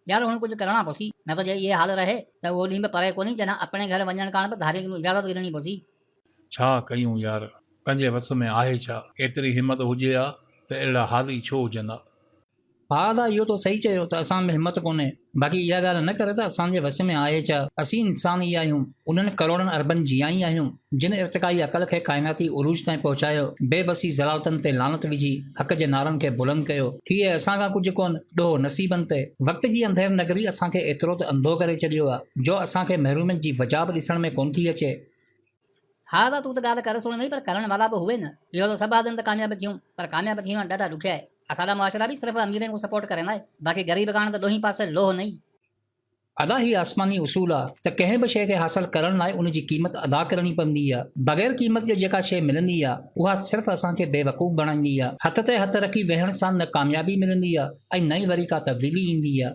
ڄڻ هن ڪجهه ڪرڻا پوسي، نه ته جي اهي حال رهي ته اهو ڏينهن به پري ڪونهي جڏهن اپڻي گهر وڃڻ ڪاڻ به ڌارين ڪنون اجازت گهرڻي پوسي. ڇا ڪيون يار، پنهنجي وس ۾ آهي ڇا؟ ايتري همت هجي ها ته اهڙا حال ئي ڇو هجن ها. ڀاء ادا اهو تو صحيح چيو ته اسان ۾ همت ڪونهي باقي اها ڳالهه نه ڪر ته اسان جي وس ۾ آهي ڇا اسين انسان ئي آهيون انهن ڪروڙن اربن جيان ئي آهيون جن ارتقائي عقل کي ڪائناتي عروج تائين پهچايو بي بسي ذلالتن تي لعنت وجهي حق جي نعرن کي بلند ڪيو ٿي ۽ اسان کان ڪجهه ڪونه ڏوهه نصيبن تي وقت جي انڌير نگري اسان کي ايترو ته انڌو ڪري ڇڏيو آ جو اسان کي محرومين جي وجهه به ڏسڻ ۾ ڪونه ٿي اچي. ها ها تون ته ڳالهه ڪر سوڻي ٿي پر ڪرڻ وارا به هئي نه. اهو ته سڀ آدم ته ڪامياب ٿيون پر ڪامياب ٿيڻ ڏاڍا ڏکيا آهي. اسان جا معاشرا به صرف اميرن کون سپورٽ ڪرين آهي باقي غريب ڪاڻ ته ڏوهين پاسي لوهه نئين. ادا هي آسماني اصول آ ته ڪنهن به شيء کي حاصل ڪرڻ لاء ان جي قيمت ادا ڪرڻي پوندي آ. بغير قيمت جي جيڪا شيء ملندي آ اها صرف اسان کي بيوقوف بڻائيندي آ. هٿ تي هٿ رکي ويهڻ سان نه ڪاميابي ملندي آ ۽ نه ئي وري ڪا تبديلي ايندي آ.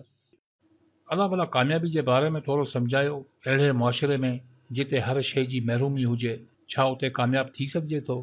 الله ڀلا ڪاميابي جي باري ۾ ٿورو سمجهايو اهڙي معاشري ۾ جتي هر شيء جي محرومي هجي ڇا اتي ڪامياب ٿي سگهجي ٿو؟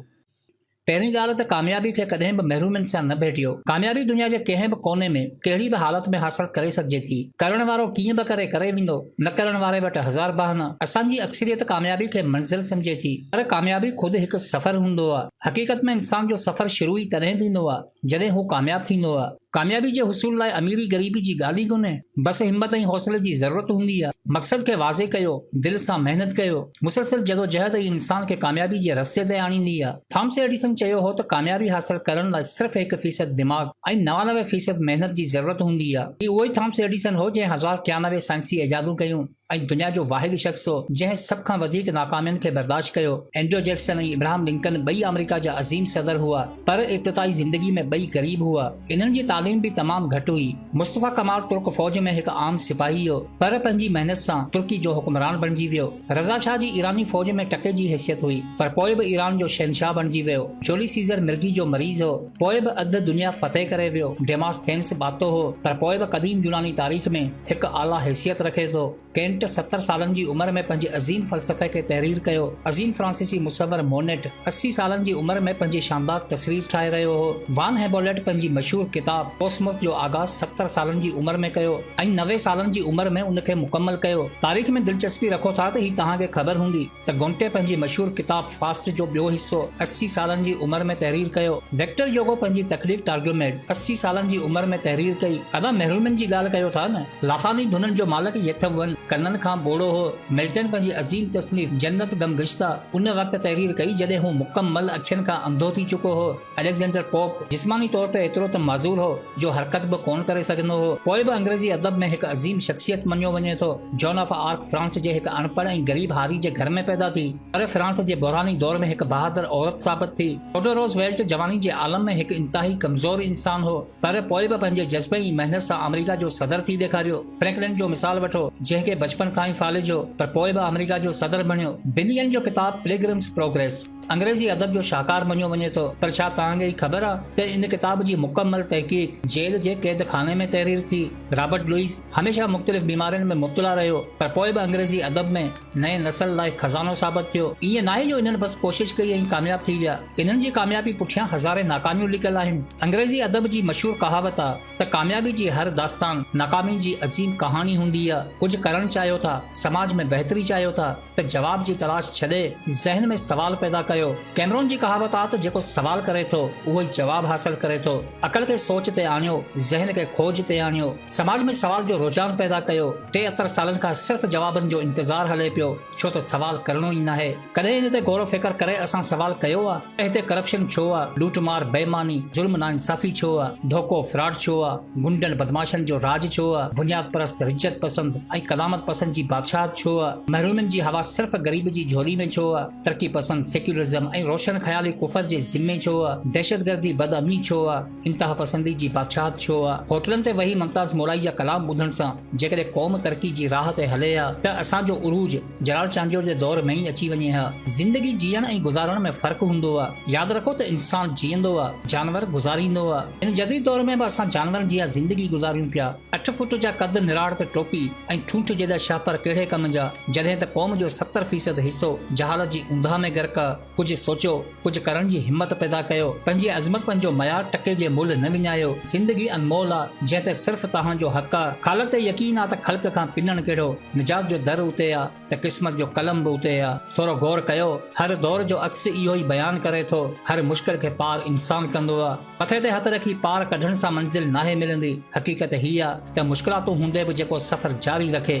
پهرين ڳالهه ته ڪاميابي کي ڪڏهن به محرومين سان نه ڀيٽيو. ڪاميابي دنيا جي ڪنهن به ڪوني ۾ ڪهڙي به حالت ۾ حاصل ڪري سگهجي ٿي. ڪرڻ وارو ڪيئن به ڪري ڪري ويندو. نه ڪرڻ واري وٽ هزار بهانا. اسان جي اڪثريت ڪاميابي کي منزل سمجهي ٿي پر ڪاميابي خود هڪ سفر هوندو آهي. حقيقت ۾ انسان جو سفر شروع ئي تڏهن ٿيندو آهي جڏهن هو ڪامياب ٿيندو آهي. ڪاميابي جي حصول لاء اميري غريبي جي ڳالهه ئي ڪونهي بس همت ۽ حوصلي جي ضرورت هوندي آهي مقصد کي واضح ڪيو دل سان محنت ڪيو مسلسل جدوجهد ئي انسان کي ڪاميابي جي رستي تي آڻيندي آهي ٿامس ايڊيسن چيو هو ته ڪاميابي حاصل ڪرڻ لاء صرف هڪ فيصد دماغ ۽ نوانوي فيصد محنت جي ضرورت هوندي آهي هي اهو ئي ٿامس ايڊيسن هو جنهن هزار ٽيانوي سائنسي ايجادون ڪيون ۽ دنيا جو واحد شخص هو جنهن سڀ کان وڌيڪ ناڪامين کي برداشت ڪيو. اينڊرو جيڪسن ۽ ابراهم لنڪن ٻئي آمريڪا جا عظيم صدر هئا پر ابتدائي زندگي ۾ ٻئي غريب هئا. انهن جي تعليم به تمام گهٽ هئي. مصطفيٰ ڪمال ترڪ فوج ۾ هڪ عام سپاهي هو پر پنهنجي محنت سان ترڪي جو حڪمران بڻجي ويو. رضا شاهه جي ايراني فوج ۾ ٽڪي جي حيثيت هئي پر پوء به ايران جو شهنشاهه بڻجي ويو. جولي سيزر مرگي جو مريض هو پوء به اڌ دنيا فتح ڪري ويو. ڊيماس ٿينس ٻاتو هو پر پوء به قديم يوناني تاريخ ۾ هڪ اعليٰ حيثيت رکي ٿو. ڪينٽ ستر سالن جي عمر ۾ پنهنجي عظيم فلسفي کي تحرير ڪيو. عظيم فرانسيسي مصور مونٽ اسي سالن جي عمر ۾ پنهنجي شاندار تصوير ٺاهي رهيو هو. وان هيبوليٽ پنهنجي مشهور ڪتاب ڪوسموس جو آغاز ستر سالن جي عمر ۾ ڪيو ۽ نوي سالن جي عمر ۾ ان کي مڪمل ڪيو. تاريخ ۾ دلچسپي رکو ٿا ته هي توهان کي خبر هوندي. ته گونٽي پنهنجي مشهور ڪتاب فاسٽ جو ٻيو حصو اسي سالن جي عمر ۾ تحرير ڪيو. ويڪٽر يوگو پنهنجي تخليق ٽارگيوميڊ اسي سالن جي عمر ۾ تحرير ڪئي. ادا مهرومين جي ڳالهه ڪيو ٿا نه. لافاني ڌنن جو مالڪ يٿ ون ڪنن کان ٻوڙو هو. ملٽن پنهنجي عظيم تصنيف جنت غم گشته ان وقت تحرير ڪئي جڏهن هو مڪمل اکين کان انڌو ٿي چڪو هو. اليگزينڊر پوپ جسماني طور تي ايترو ته معذور هو جو حرڪت به ڪونه ڪري سگهندو هو، پوء به انگريزي ادب ۾ هڪ عظيم شخصيت مڃيو وڃي ٿو. جون آف آرڪ فرانس جي هڪ اڻپڙهه ۽ غريب هاري جي گهر ۾ پيدا ٿي، پر فرانس جي بحراني دور ۾ هڪ بهادر عورت ثابت ٿي. ٿوڊو روز ويلٽ جواني جي عالم ۾ هڪ انتهائي ڪمزور انسان هو، پر پوء به پنهنجي جذبي ۽ محنت سان آمريڪا جو صدر ٿي ڏيکاريو. فرينڪلن جو مثال وٺو، جنهن کي بچپن کان ئي فالج هو، پر پوء به آمريڪا جو صدر بڻيو. بنيئن جو ڪتاب پليگرمز پروگريس. انگريزي ادب جو شاهڪار مڃيو وڃي ٿو، پر ڇا توهان کي هي خبر آ ته ان ڪتاب جي مڪمل تحقيق جيل جي قيد خاني ۾ تحرير ٿي. رابرٽ لوئيس هميشه مختلف بيمارين ۾ مبتلا رهيو، پر پوء به انگريزي ادب ۾ نئين نسل لاء خزانو ثابت ٿيو. ائين ناهي جو انهن بس ڪوشش ڪئي ۽ ڪامياب ٿي ويا، انهن جي ڪاميابي پٺيان هزارين ناڪاميون لڪيل آهن. انگريزي ادب جي مشهور ڪهاوت آ ته ڪاميابي جي هر داستان ناڪامي جي عظيم ڪهاڻي هوندي آ. ڪجهه ڪرڻ چاهيو ٿا، سماج ۾ بهتري چاهيو ٿا، ته جواب جي تلاش ڇڏي ذهن ۾ سوال پيدا ڪيو. ڪيمرون جي ڪهاوت آ ته جيڪو سوال ڪري ٿو اهو ئي جواب حاصل ڪري ٿو. عقل کي سوچ تي آڻيو، ذهن کي کوج تي آڻيو. سماج ۾ سوال جو رجحان پيدا ڪيو. ٽي اتر سالن کان صرف جوابن جو انتظار هلي پيو، ڇو ته سوال ڪرڻو ئي ناهي. ڪڏهن ان تي غور و فڪر ڪري اسان سوال ڪيو آ؟ ته هتي ڪرپشن ڇو آ، لوٽ مار، بيماني، ظلم ناانصافي ڇو آ، ڌوڪو، فراڊ ڇو آ، غنڊن بدمعاشن جو راڄ ڇو آ، بنياد پرست، رجعت پسند ۽ قدامت پسند جي بادشاهت ڇو آ، محرومين جي هوا صرف غريب جي جهولي ۾ ڇو آ، ترقي پسند، سيڪيولرزم ۽ روشن خيالي ڪفر جي ذمي ڇو آ، دهشتگردي، بدامني ڇو آ. انتها پسندي جي بادشاهت ڇو آ؟ هوٽلن تي ويهي ممتاز مورائي جا ڪلام ٻڌڻ سان جيڪڏهن قوم ترقي جي راهه تي هلي ها ته اسان جو عروج جلال چانڊيو جي دور ۾ ئي اچي وڃي ها. زندگي جيئڻ ۽ گذارڻ ۾ فرق هوندو آ. ياد رکو ته انسان جيئندو آ، جانور گذاريندو آ. هن جديد دور ۾ به اسان جانورن جيان زندگي گذاريون پيا. اٺ فوٽ جا قد، نراڙ ته ٽوپي ۽ ٺونٺ جيڏا شاهپر ڪهڙي ڪم جا، جڏهن ته قوم جو ستر فيصد حصو جهالت جي اونداهه ۾ غرق آ. ڪجهه سوچيو، ڪجهه ڪرڻ جي همت پيدا ڪيو، پنهنجي عظمتپن جو ميار ٽڪي جي ملهه نه وڃايو، زندگي انمول آ، جنهن تي صرف توهان جو حق آ، خالق تي يقين آ ته خلق کان پنڻ ڪهڙو، نجات جو در اتي آ ته قسمت جو قلم به اتي آ، ٿورو غور ڪيو، هر دور جو عڪس اهو ئي بيان ڪري ٿو، هر مشڪل کي پار انسان ڪندو آ، مٿي تي هٿ رکي پار ڪڍڻ سان منزل ناهي ملندي، حقيقت هي آ ته مشڪلاتون هوندي به جيڪو سفر جاري رکي.